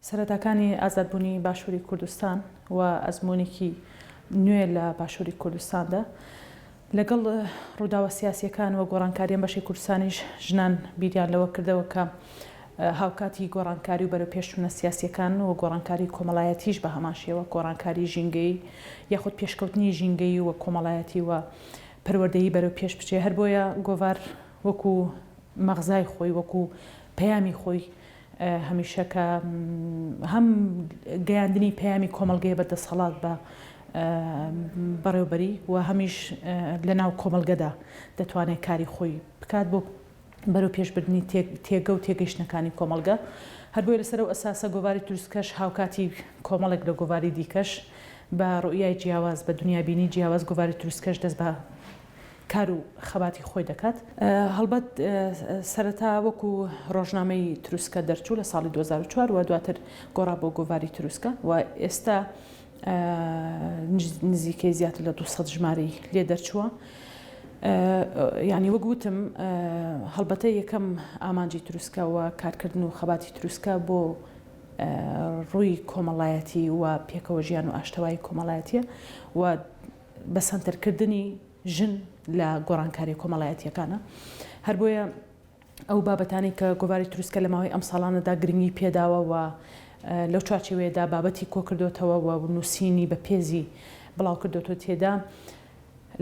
سەرەتاکانی ئازادبوونی باشووری کوردستان و ئەزموونێکی نوێ لە باشووری کوردستاندا. لەگەڵ ڕووداوە سیاسییەکان و گۆڕانکارییە بەشی کوردستانیش ژنان بیریان لەوە کردەوە کە هاوکاتی گۆڕانکاری و بەرەوپێشچوونە سیاسییەکان و گۆڕانکاری کۆمەڵایەتیش بە هەمان شێوە گۆڕانکاری ژینگەیی یاخود پێشکەوتنی ژینگەیی و کۆمەڵایەتی و پەروەردەیی بەرەو پێش بچێ. هەر بۆیە گۆڤار وەکوو مەغزای خۆی، وەکوو پەیامی خۆی، هەمیشە کە هەم گەیاندنی پەیامی کۆمەڵگەیە بە دەسەڵات بە بەڕێوبەری و هەمیش لە ناو کۆمەڵگەدا دەتوانێت کاری خۆی بکات بۆ بەرەو پێشبردننی تێگە و تێگەیشتنەکانی کۆمەڵگە هەربۆیە لەسەر و ئەساسە گۆڤاری تروسکەش هاوکاتی کۆمەڵێک لە گۆڤاری دیکەش بە ڕوئیای جیاواز بە دنیابینی جیاواز گۆڤاری تروسکەش دەست بە کار و خەباتی خۆی دەکات. هەڵبەت سەرەتا وەکو ڕۆژنامەی تروسکە دەرچوو لە ساڵی دوو هەزار و چوار و دواتر گۆڕا بۆ گۆڤاری تروسکە و ئێستا نزیکەی زیاتر لە دوو سەد ژمارەی لێ دەرچووە. یانی وەک وتم هەڵبەتە یەکەم ئامانجی تروسکە و کارکردن و خەباتی تروسکە بۆ ڕووی کۆمەڵایەتی و پێکەوە ژیان و ئاشتەوایی کۆمەڵایەتیە و بەسەنتەرکردنی ژن لە گۆڕانکاریە کۆمەڵایەتیەکانە، هەر بۆیە ئەو بابەتانەی کە گۆڤاری تروسکە لە ماوەی ئەم ساڵانەدا گرنگی پێداوە و لەو چوارچێوەیەدا بابەتی کۆکردۆتەوە و نووسینی بە پێزی بڵاوکردۆتەوە تێدا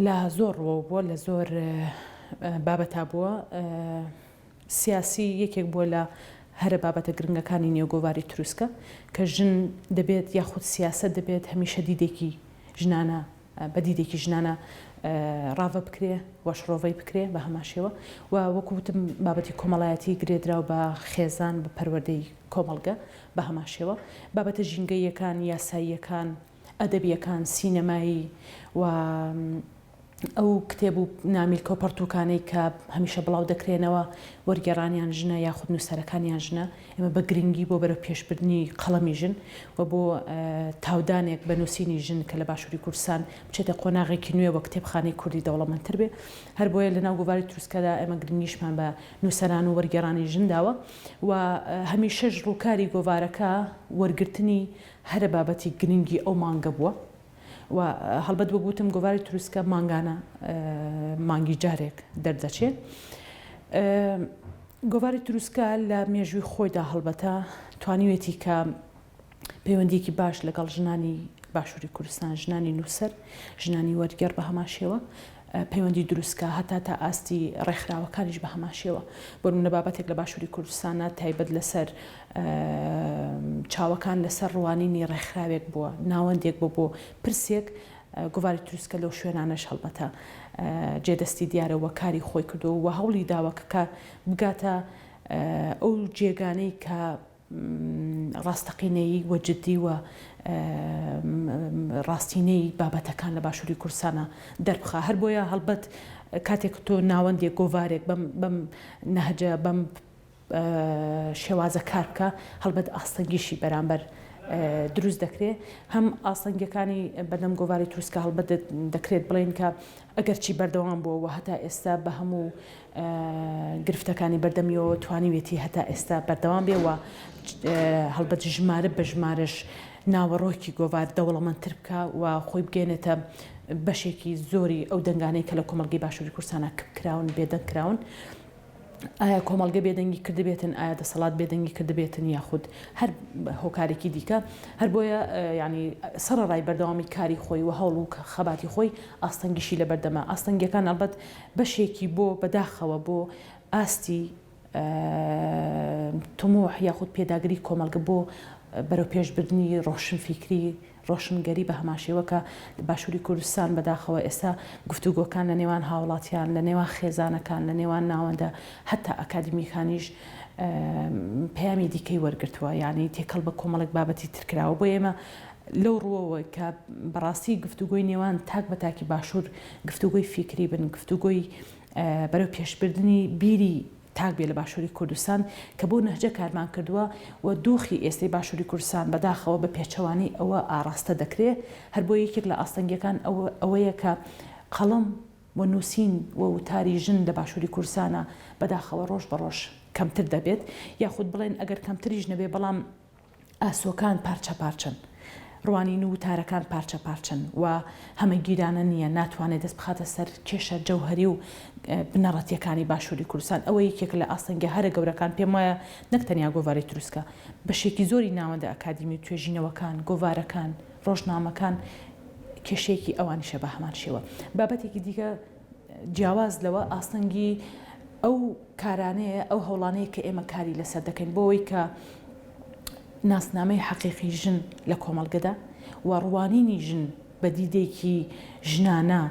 لە زۆر ڕووەوە بووە لە زۆر بابەتا بووە سیاسی یەکێک بووە لە هەرە بابەتە گرنگەکانی نێو گۆڤاری تروسکە کە ژن دەبێت یاخود سیاسەت دەبێت هەمیشە دیدێکی ژنانە بە دیدێکی ژنانە ڕاڤە بکرێ و شڕۆڤەی بکرێ بە هەمان شێوە و وەکو وتم بابەتی کۆمەڵایەتی گرێدراو بە خێزان بە پەروەردەی کۆمەڵگە بە هەمان شێوە بابەتە ژینگەییەکان یاساییەکان ئەدەبیەکان سینەمایی و ئەو کتێب و نامیلکە و پەڕتووکانەی کە هەمیشە بڵاو دەکرێنەوە، وەرگێڕانیان ژنە یاخود نووسەرەکانیان ژنە، ئێمە بە گرنگی بۆ بەرەوپێشبردنی قەڵەمی ژن و بۆ تاودانێک بە نووسینی ژن کە لە باشووری کوردستان بچێتە قۆناغێکی نوێ و کتێبخانەی کوردی دەوڵەمەندتر بێ، هەر بۆیە لەناو گۆڤاری تروسکەدا ئێمە گرنگیشمان بە نووسەران و وەرگێڕانی ژن داوە و هەمیشەش ڕووکاری گۆڤارەکە وەرگرتنی هەرە بابەتی گرنگی ئەو مانگە بووە. و هەڵبەت وەک وتم گۆڤاری تروسکە مانگانە مانگی جارێک دەردەچێ. گۆڤاری تروسکە لە مێژووی خۆیدا هەڵبەتە توانیوێتی کە پەیوەندیکی باش لەگەڵ ژنانی باشووری کوردستان ژنانی نووسەر ژنانی وەرگێڕ بە هەمان شێوە پەیوەندی دروست کا هەتا تا ئاستی ڕێکخراوەکانیش بە هەمان شێوە بۆ نمونە بابەتێک لە باشوری کوردستانە تایبەت لەسەر چاوەکان لەسەر ڕوانینی ڕێکخراوێک بووە ناوەندێک بۆ بۆ پرسێک گوڤاری تروسکە لەو شوێنانەش هەڵبەتە جێدەستی دیارە وە کاری خۆی کردو و هەوڵی داوە کە بگاتە ئەو جێگانەی کە ڕاستەقینەیی و جدی و ڕاستینەی بابەتەکان لە باشوری کوردستانا دەربخا هەر بۆیە هەڵبەت کاتێک تۆ ناوەندێک گۆڤارێک بەم بەم نەهجە بەم شێوازە کار بکا هەڵبەت ئاستەنگیشی بەرامبەر دروست دەکرێ هەم ئاستەنگەکانی بەدەم گۆڤاری تروسکە هەڵبەت دەکرێت بڵێن کە ئەگەرچی بەردەوام بووەوە هەتا ئێستا بە هەموو گرفتەکانی بەردەمیەوە توانیوێتی هەتا ئێستا بەردەوام بێ و هەڵبەت ژمارە بە ژمارەش ناوەڕۆکی گۆڤار دەوڵەمەندتر بکە و خۆی بگەێنێتە بەشێکی زۆری ئەو دەنگانەی کە لە کۆمەلگەی باشووری کورسانە کپ کراون بێدەنگ کراون. ئایا کۆمەڵگە بێدەنگی کردبێتن ئایا دەسەڵات بێدەنگی کردبێتن یاخود هەر هۆکارێکی دیکە هەر بۆیە ینی سەر ڕای بەردەوامی کاری خۆی و هەوڵ و خەباتی خۆی ئاستەنگیشی لە بەردەمە ئاستەنگەکان ئەلبەت بەشێکی بۆ بەداخەوە بۆ ئاستی طموح یاخود پێداگری کۆمەڵگە بۆ بەرەوپێش بردنی ڕۆشنفیکری ڕۆشنگەری بە هەماشێوە کە باشووری کوردستان بەداخەوە ئێستا گفتوگۆکان لە نێوان هاوڵاتیان لە نێوان خێزانەکان لە نێوان ناوەندە هەتا ئەکادمیەکانیش پەیامی دیکەی وەرگرتووە یعنی تێکەڵ بە کۆمەڵێک بابەتی ترکراوە بۆ ئێمە لەو ڕووەوە کە بەڕاستی گفتوگۆی نێوان تاک بە تاکی باشوور گفتوگۆی فیکری بن، گفتوگۆی بەرەو پێشبردنی بیری تاک بێ لە باشووری کوردستان کە بەو نەهجە کارمان کردووە و دۆخی ئێستەی باشووری کوردستان بەداخەوە بە پێچەوانەی ئەوە ئاڕاستە دەکرێ، هەر بۆیە یەکێک لە ئاستەنگیەکان ئەوەیە کە قەڵەم و نووسین و وتاری ژن لە باشووری کوردستانا بەداخەوە ڕۆژ بە ڕۆژ کەمتر دەبێت یاخود بڵێن ئەگەر کەمتریش نەبێ بەڵام ئاسۆکان پارچە پارچەن، ڕوانین و وتارەکان پارچە پارچەن و هەمەگیرانە نییە، ناتوانێت دەست بخاتە سەر کێشە جەوهەری و بنەڕەتییەکانی باشووری کوردستان، ئەوە یەکێکە لە ئاستەنگە هەرە گەورەکان، پێم وایە نەک تەنیا گۆڤاری تروسکە، بەشێکی زۆری ناوەندە ئەکادیمی و توێژینەوەکان، گۆڤارەکان، ڕۆژنامەکان کێشەیەکی ئەوانیشە بە هەمان شێوە. بابەتێکی دیکە جیاواز لەوە ئاستەنگی ئەو. کارانەیە، ئەو هەوڵانەیە کە ئێمە کاری لەسەر دەکەین بۆ ئەوەی کە ناسنامەی حەقیقی ژن لە کۆمەڵگەدا و ڕوانینی ژن بە دیدێکی ژنانە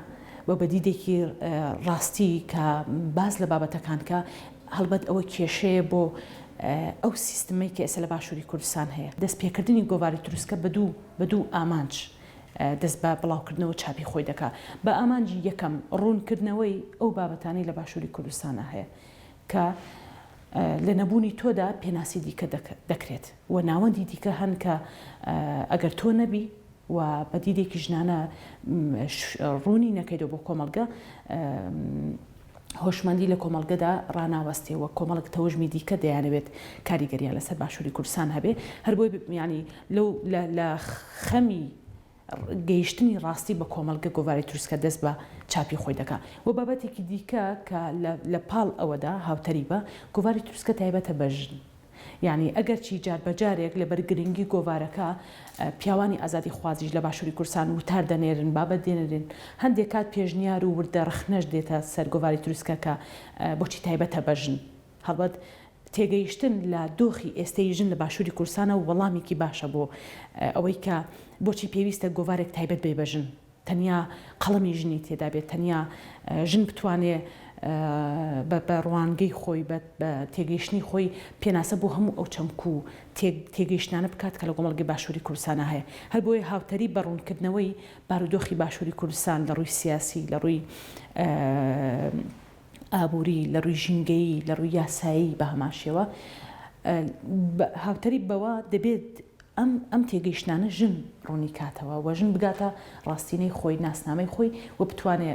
و بە دیدێکی ڕاستی کە باس لە بابەتەکان کە هەڵبەت ئەوە کێشەیە بۆ ئەو سیستمەی کە ئێستا لە باشووری کوردستان هەیە دەست پێکردنی گۆڤاری تروسکە بە دوو بە دوو ئامانج دەست بە بڵاوکردنەوە چاپی خۆی دەکا بە ئامانجی یەکەم ڕوونکردنەوەی ئەو بابەتانەی لە باشووری کوردستانا هەیە کە لە نەبوونی تۆدا پێناسی دیکە دەکرێت و ناوەندی دیکە هەن کە ئەگەر تۆ نەبی و بە دیدێکی ژنانە ڕوونی نەکەیتەوە بۆ کۆمەڵگە هۆشمەندی لە کۆمەڵگەدا ڕاناوەستێ وە کۆمەڵک تەوژمی دیکە دەیانەوێت کاریگەریان لەسەر باشوری کوردستان هەبێ هەر بۆی یانی لەو لە خەمی گەیشتنی ڕاستی بە کۆمەڵگە گۆڤاری تروسکە دەست بە چاپی خۆی دەکا وە بابەتێکی دیکە کە لە پاڵ ئەوەدا هاوتەریبە گۆڤاری تروسکە تایبەتە بە ژن یانی ئەگەرچی جار بە جارێک لە بەر گرنگی گۆڤارەکە پیاوانی ئازادی خوازیش لە باشوری کوردستان وتار دەنێرن بابەت دێنرێن هەندێ کات پێشنیار و وردە رەخنەش دێتە سەر گۆڤاری تروسکە کە بۆچی تایبەتە بە ژن هەڵبەت تێگەیشتن لە دۆخی ئێستەی ژن لە باشوری کوردستانە وەڵامێکی باشە بۆ ئەوەی کە بۆچی پێویستە گۆڤارێک تایبەت بێ بە ژن. تەنیا قەڵەمی ژنی تێدا بێت، تەنیا ژن بتوانێ بە ڕوانگەی خۆی، بە تێگەیشتنی خۆی پێناسە بۆ هەموو ئەو چەمک و تێگەیشتنانە بکات کە لە کۆمەڵگەی باشووری کوردستانا هەیە. هەر بۆیە هاوتەریب بە ڕوونکردنەوەی بارودۆخی باشووری کوردستان لە ڕووی سیاسی، لە ڕووی ئابووری، لە ڕووی ژینگەیی، لە ڕووی یاسایی بە هەمان شێوە، هاوتەریب بەوە دەبێت، ئەم ئەم تێگەیشتنانە ژن ڕوونی کاتەوە و ژن بگاتە ڕاستینەی خۆی، ناسنامەی خۆی و بتوانێ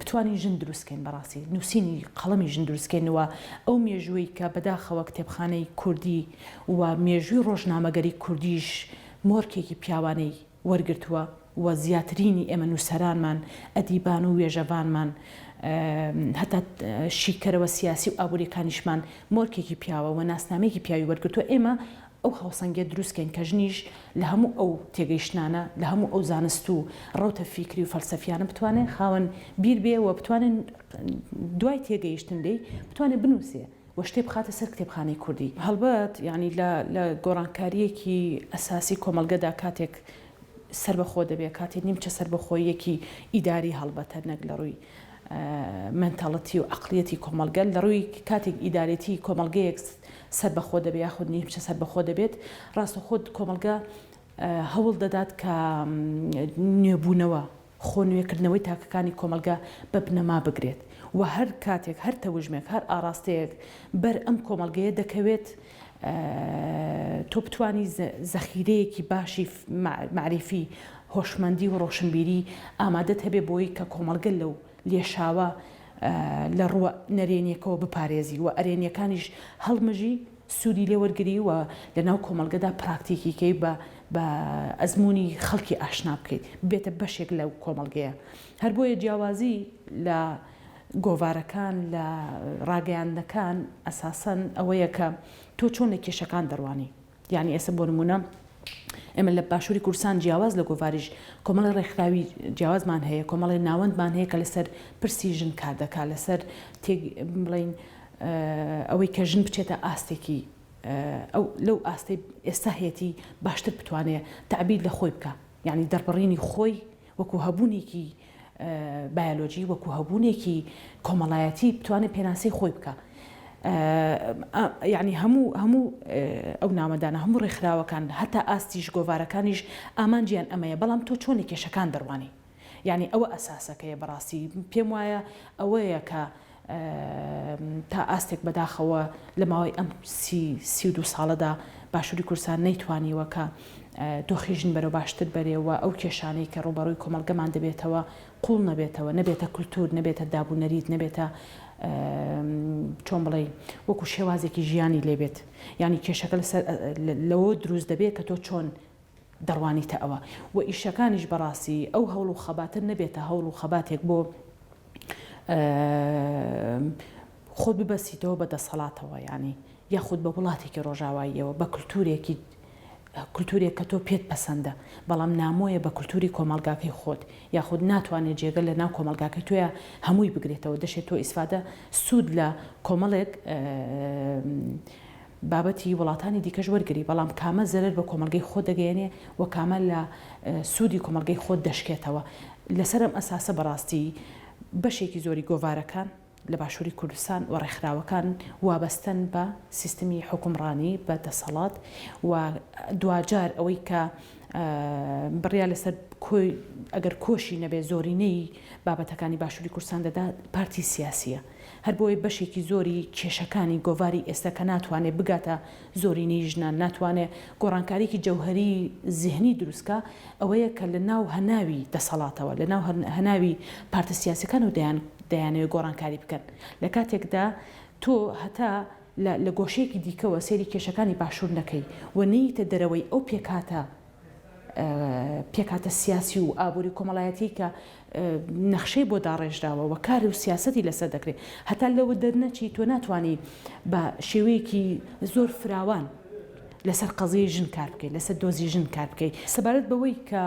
بتوانین ژن دروست کەین بەڕاستی نووسینی قەڵەمی ژن دروست کەین و ئەو مێژووەی کە بەداخەوە کتێبخانەی کوردی و مێژووی ڕۆژنامەگەری کوردیش مۆرکێکی پیاوانەی وەرگرتووە و زیاترینی ئێمە نووسەرانمان، ئەدیبان و وێژەڤانمان، هەتا شیکەرەوە سیاسی و ئابووریەکانیشمان مۆرکێکی پیاوە و ناسنامەیەکی پیاوی وەرگرتووە، ئێمە ئەو هاوسەنگیە دروستکەین کە ژنیش لە هەموو ئەو تێگەیشتنانە، لە هەموو ئەو زانست و ڕەوتە فیکری و فەلسەفیانە بتوانێ خاوەن بیر بێ و بتوانێ دوای تێگەیشتن لێی بتوانێ بنووسێ. و شتێ بخاتە سەر کتێبخانەی کوردی. هەڵبەت یانی لە لە گۆڕانکارییەکی ئەساسی کۆمەڵگەدا کاتێک سەربەخۆ دەبێ، کاتێ نیمچە سەربەخۆییەکی ئیداری هەڵبەتە نەک لە ڕووی مەنتاڵتی و عەقڵیەتی کۆمەڵگە، لە ڕووی کاتێک ئیدارێتی کۆمەڵگەیەک سەربەخۆ دەبێ یاخود نیمچە سەربەخۆ دەبێت، ڕاستەوخۆ کۆمەڵگە هەوڵ دەدات کە نوێبوونەوە، خۆ نوێکردنەوەی تاکەکانی کۆمەڵگە بە بنەما بگرێت و هەر کاتێک هەر تەوژمێک هەر ئاڕاستەیەک بەر ئەم کۆمەڵگەیە دەکەوێت تۆ بتوانی زەخیرەیەکی باشی مەعریفی هۆشمەندی و ڕۆشنبیری ئامادەت هەبێ بۆی کە کۆمەڵگە لەو لێشاوە لە ڕووە نەرێنیەکەوە بپارێزی و ئەرێنیەکانیش هەڵمژی سوودی لێ وەرگری و لە ناو کۆمەڵگەدا پراکتیکیکەی بە بە ئەزموونی خەڵکی ئاشنا بکەیت، ببێتە بەشێک لەو کۆمەڵگەیە. هەر بۆیە جیاوازی لە گۆڤارەکان، لە ڕاگەیاندنەکان ئەساسەن ئەوەیە کە تۆ چۆن لە کێشەکان دەڕوانی. یانی ئێستا بۆ نموونە ئێمە لە باشووری کوردستان جیاواز لە گۆڤاریش کۆمەڵێ ڕێکخراوی جیاوازمان هەیە، کۆمەڵێ ناوەندمان هەیە کە لەسەر پرسی ژن کار دەکا، لەسەر تێک بڵێین، ئەوەی کە ژن بچێتە ئاستێکی ئەو لەو ئاستەی ئێستا هەیەتی باشتر بتوانێ تەعبیر لە خۆی بکا یانی دەربڕینی خۆی وەکو هەبوونێکی بایۆلۆجی وەکو هەبوونێکی کۆمەڵایەتی بتوانێت پێناسەی خۆی بکە یعنی هەموو هەموو ئەو نامەدانە هەموو ڕێکخراوەکان هەتا ئاستیش گۆوارەکانیش ئامانجیان ئەمەیە بەڵام تۆ چۆنی کێشەکان دەڕوانی یانی ئەوە ئەساسەکەیە بەڕاستی پێم وایە ئەوەیە کە تا ئاستێک بەداخەوە لە ماوەی ئەم سی سی و دوو ساڵەدا باشووری کورسان نەیتوانیوە کە دۆخی ژن بەرەو باشتر بەرێەوە ئەو کێشانەی کە ڕوبەڕووی کۆمەلگەمان دەبێتەوە قوڵ نەبێتەوە نەبێتە کولتور نەبێتە دابوونەریت نەبێتە چۆن بڵێ وەکو شێوازێکی ژیانی لێبێت ینی کێشەکە لەسەر لەوە دروست دەبێت کە تۆ چۆن دەڕوانیتە ئەوە و ئیشەکانیش بەڕاستی ئەو هەوڵ و خەباتە نەبێتە هەوڵ و خەباتێک بۆ خۆت ببەستیتەوە بە دەسەڵاتەوە یانی یاخود بە وڵاتێکی ڕۆژاواییەوە بە کللتورێکی کللتورێک کە تۆ پێت پەسەندە بەڵام نامۆیە بە کللتوری کۆمەلگاکەی خۆت یاخود ناتوانێت جێگە لە ناو کۆمەلگاکەی تۆە هەمووی بگرێتەوە دەشێت تۆ ئیسفادە سوود لە کۆمەڵێک بابەتی وڵاتانی دیکەش وەرگری، بەڵام کامە زەرەر بە کۆمەڵگەی خۆت دەگەیەنێ و کامە لە سوودی کۆمەڵگەی خۆت دەشکێتەوە. لەسەر ئەم ئەساسە بەڕاستی بەشێکی زۆری گۆڤارەکان لە باشووری کوردستان و ڕێکخراوەکان وابەستەن بە سیستمی حوکمڕانی، بە دەسەڵات و دواجار ئەوەی کە بڕیار لەسەر کۆی، ئەگەر کۆشی نەبێ زۆرینەی بابەتەکانی باشووری کوردستان دەدات پارتی سیاسییە. هەر بۆیە بەشێکی زۆری کێشەکانی گۆڤاری ئێستا کە ناتوانێ بگاتە زۆرینەی ژنان، ناتوانێ گۆڕانکاریەکی جەوهەری زیهنی دروست کا، ئەوەیە کە لە ناو هەناوی دەسەڵاتەوە، لە ناو هەناوی پارتە سیاسیەکانەوە دەیان دەیانەوێ گۆڕانکاری بکەن، لە کاتێکدا تۆ هەتا لە لە گۆشەیەکی دیکەوە سەیری کێشەکانی باشور نەکەی و نەیتە دەرەوەی ئەو پێکهاتە پێکهاتە سیاسی و ئابووری و کۆمەڵایەتیی کە نەخشەی بۆ داڕێژراوە و کار و سیاسەتی لەسەر دەکرێت، هەتا لەوە دەرنەچی تۆ ناتوانی بە شێوەیەکی زۆر فراوان لەسەر قەزیەی ژن کار بکەی، لەسەر دۆزی ژن کار بکەی. سەبارەت بەوەی کە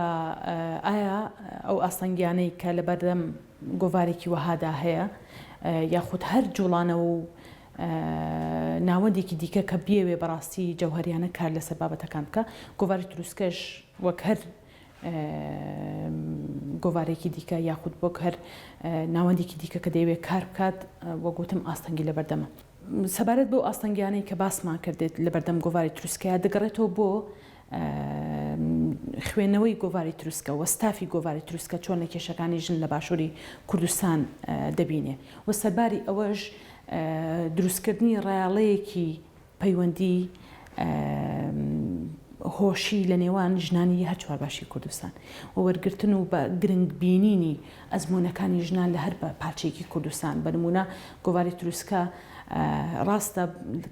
ئایا ئەو ئاستەنگییانەی کە لەبەردەم گۆڤارێکی وەهادا هەیە، یاخود هەر جووڵانەوە و ناوەندێکی دیکە کە بیەوێ بەڕاستی جەوهەریانە کار لەسەر بابەتەکان بکا گۆڤاری تروسکەش وەک هەر گۆڤارێکی دیکە یاخود وەک هەر ناوەندێکی دیکە کە دەیەوێت کار بکات وەک وتم ئاستەنگی لەبەردەمە سەبارەت بۆ ئاستەنگیانەی کە باسمان کردێت لەبەردەم گۆڤاری تروسکەیە دەگەڕێتەوە بۆ خوێنەوەی گۆڤاری تروسکە و ستافی گۆڤاری تروسکە چۆن لە کێشەکانی ژن لە باشووری کوردستان دەبینێ و سەرباری ئەوەش دروستکردنی ڕایەڵەیەکی پەیوەندی هۆشی لە نێوان ژنانی هەر چوار باشی کوردستان و وەرگرتن و بە گرنگ بینینی ئەزمونونەکانی ژنان لە هەر بە پارچێکی کوردستان بەنمونە گۆواری تروسکە ڕاستە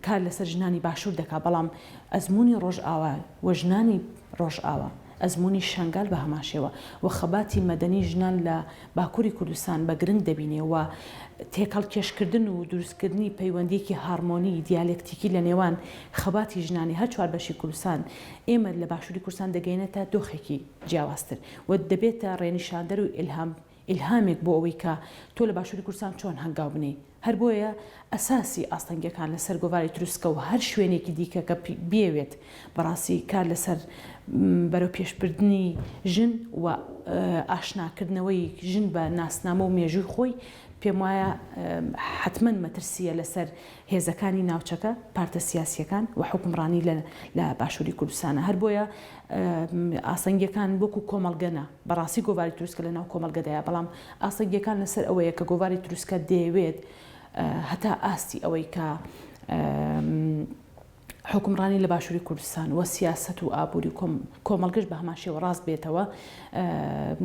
کار لەسەر ژنانی باشوور دەکا بەڵام ئەزموونی ڕۆژئاوا و ژنانی ڕۆژئاوا، ئەزموونی شەنگال بە هەمانشێوە و خەباتی مەدەنی ژنان لە باکووری کوردستان بە گرنگ دەبینێ و تێکهەڵکێشکردن و دروستکردنی پەیوەندییەکی هارمۆنی دیالەکتیکی لە نێوان خەباتی ژنانی هەر چوار بەشی کوردستان ئێمە لە باشووری کوردستان دەگەیەنێتە دۆخێکی جیاوازتر و دەبێتە ڕێنیشاندەر و ئیلهام ئیلهامێک بۆ ئەوەی کە تۆ لە باشووری کوردستان چۆن هەنگاو بنێی. هەر بۆیە ئەساسی ئاستەنگییەکان لە سەر گۆڤاری تروسکە و هەر شوێنێکی دیکە کە بیەوێت بەڕاستی کار لە سەر بەرەو پێش بردنی ژن و ئاشنا کردنەوەی ژن بە ناسنامە و مێژووی خۆی پێم وایە حەتمەن مەترسییە لە سەر هێزەکانی ناوچەکە، پارتە سیاسییەکان و حوکمڕانی لە باشووری کوردستانە. هەر بۆیە ئاستەنگییەکان وەکوو کۆمەڵگە نا. بەڕاستی گۆڤاری تروسکە لە ناو کۆمەڵگەدایە، بەڵام ئاستەنگییەکان لەسەر ئەوەیە کە گۆڤاری تروسکە دەیەوێت هەتا ئاستی ئەوەی کە حوکمڕانی لە باشووری کوردستان و سیاسەت و ئابووری و کۆمەڵگەش بە هەمان شێوە ڕاست بێتەوە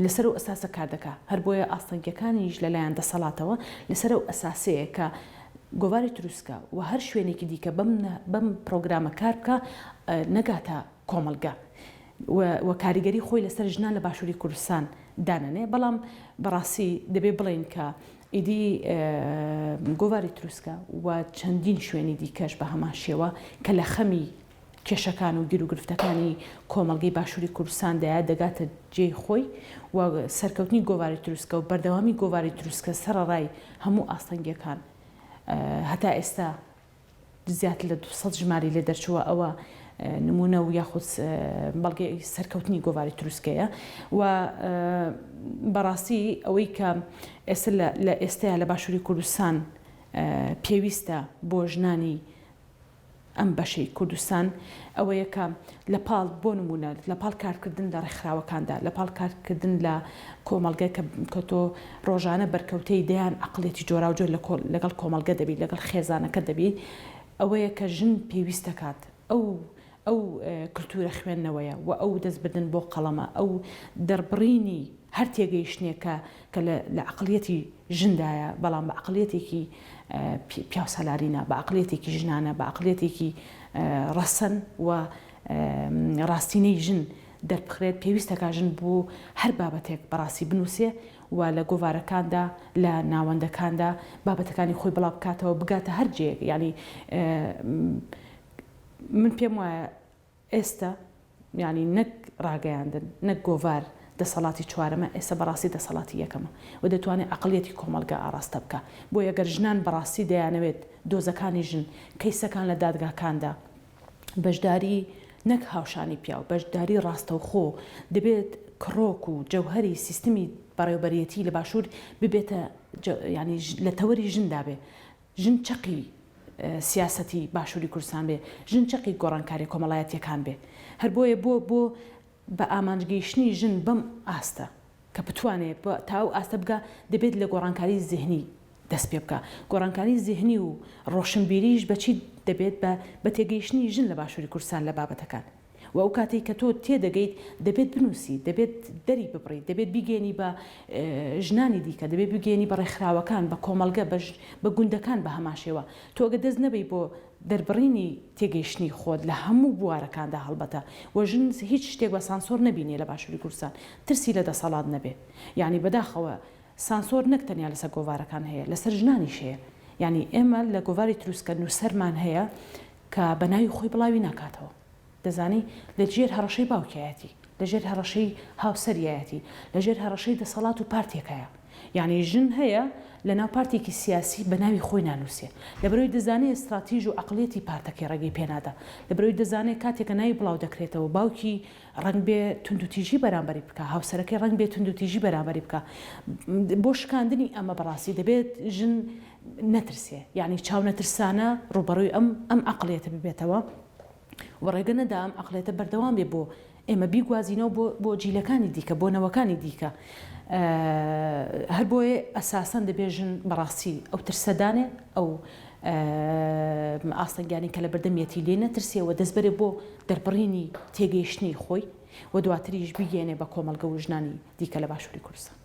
لەسەر و ئەساسە کار دەکا هەر بۆیە ئاستەنگیەکانیش لەلایەن دەسەڵاتەوە لەسەر و ئەساسەیە کە گۆواری تروسکە و هەر شوێنێکی دیکە بەم بەم پرۆگرامە کار بکە نەگاتە کۆمەلگا و و کاریگەری خۆی لەسەر ژنان لە باشوری کوردستان دانەنێ بەڵام بەڕاستی دەبێ بڵێین کە ئیدی گۆڤاری تروسکە و چەندین شوێنی دیکەش بە هەمان شێوە کە لە خەمی کێشەکان و گیروگرفتەکانی کۆمەلگەی باشووری کوردستان دەیە دەگاتە جێی خۆی و سەرکەوتنی گۆواری تروسکە و بەردەوامی گۆواری تروسکە سەرڕای هەموو ئاستەنگیەکان هەتا ئێستا زیاتر لە دوو سەد ژمارەی لێ دەرچووە، ئەوە نموونە و یاخود بەڵگەی سەرکەوتنی گۆڤاری تروسکەیە و بەڕاستی ئەوەی کە ئێستا لە ئێستەیا لە باشووری کوردستان پێویستە بۆ ژنانی ئەم بەشەی کوردستان ئەوەیە کە لە پاڵ بۆ نموونە لە پاڵ کارکردن لە ڕێکخراوەکاندا، لە پاڵ کارکردن لە کۆمەڵگە کە کە تۆ ڕۆژانە بەرکەوتەی دەیان عەقڵێتی جۆراوجۆر لە کۆ لەگەڵ کۆمەڵگە دەبیت لەگەڵ خێزانەکەت دەبیت ئەوەیە کە ژن پێویست دەکات ئەو ئەو کلتوورە خوێندنەوەیە وە ئەو دەست بردن بۆ قەڵەمە ئەو دەربڕینی هەر تێگەیشتنێکە کە لە عەقڵیەتی ژندایە، بەڵام بە عەقڵیەتێکی پیاوسالاری نا، بە عەقڵیەتێکی ژنانە، بە عەقڵیەتێکی ڕەسەن و ڕاستینەی ژن دەربخرێت، پێویستەکا ژن بۆ هەر بابەتێک بەڕاستی بنووسێ و لە گۆڤارەکاندا، لە ناوەندەکاندا بابەتەکانی خۆی بڵابکاتەوە، بگاتە هەر جێیەک، یانی من پێم وایە. ئێستە یانی نەک ڕاگەیاندن نەک گۆڤار دەسەڵاتی چوارەمە ئێستە بەڕاستی دەسەڵاتی یەکەمە و دەتوانێت عەقڵیەتی کۆمەڵگا ئاڕاستە بکا بۆیە گەر ژنان بەڕاستی دەیانەوێت دۆزەکانی ژن کەیسەکان لە دادگاکاندا بەشداری نەک هاوشانی پیاو بەشداری ڕاستەوخۆ دەبێت کڕۆک و جەوهەری سیستمی بەڕێوبەرێتی لە باشور ببێتە یانی لە تەوەری ژندا بێ ژن چەقی سیاسەتی باشوری کوردستان بێ، ژن چەقی گۆڕانکاریە کۆمەڵایەتیەکان بێ. هەر بۆیە بۆ بۆ بە ئامانج گەیشتنی ژن بەم ئاستە کە بتوانێ تا ئەو ئاستە بگا دەبێت لە گۆڕانکاری زهنی دەست پێ بکا. گۆڕانکاری زهنی و ڕۆشنبیریش بە چی دەبێت بە بە تێگەیشتنی ژن لە باشوری کوردستان لە بابەتەکان. وە ئەو کاتەی کە تۆ تێدەگەیت دەبێت بنووسیت، دەبێت دەری ببڕیت، دەبێت بیگەیەنی بە ژنانی دیکە، دەبێت بگەیەنی بە ڕێکخراوەکان، بە کۆمەڵگە، بە گوندەکان بە هەمانشێوە. تۆ ئەگەر دەست نەبەی بۆ دەربڕینی تێگەیشتنی خۆت لە هەموو بوارەکاندا هەڵبەتە وە ژن هیچ شتێک بە سانسۆر نەبینێ لە باشوری کوردستان ترسی لە دەسەڵات نەبێ یانی بەداخەوە سانسۆر نەک تەنیا لەسەر گۆڤارەکان هەیە لەسەر ژنانیش هەیە یانی ئێمە لە گۆڤاری تروسکە نووسەرمان هەیە کە بە ناوی خۆی بڵاوی ناکاتەوە. دەزانی لە ژێر هەڕەشەی باوکیایەتی، لە ژێر هەڕەشەی هاوسەریایەتی، لە ژێر هەڕەشەی دەسەڵات و پارتێکایە. یانی ژن هەیە لە ناو پارتێکی سیاسی بە ناوی خۆی نانووسێ. لەبەرئەوەی دەزانێ ستراتیژ و عەقڵیەتی پارتەکەی ڕێگەی پێ نادا. لەبەرئەوەی دەزانێ کاتێ کە ناوی بڵاو دەکرێتەوە باوکی ڕەنگبێ توندوتیژی بەرامبەری بکا، هاوسەرەکەی ڕەنگبێ توندوتیژی بەرامبەری بکا. بۆ شکاندنی ئەمە بەڕاستی دەبێت ژن نەترسێ یانی چاونەترسانە ڕووبەڕووی ئەم ئەم عەقڵیەتە ببێتەوە و ڕێگە نەدا ئەم عەقڵێتە بەردەوام بێ بۆ ئێمە بیگوازینەوە بۆ بۆ جیلەکانی دیکە بۆ نەوەکانی دیکە هەر بۆیە ئەساسەن دەبێژن بەڕاستی ئەو ترسەدانێ ئەو ئاستەنگانی کە لە بەردەمیەتی لێ نەترسێەوە دەستبەرێ بۆ دەربڕینی تێگەیشتنی خۆی و دواتریش بگەێنێ بە کۆمەلگە و ژنانی دیکە لە باشووری کوردستان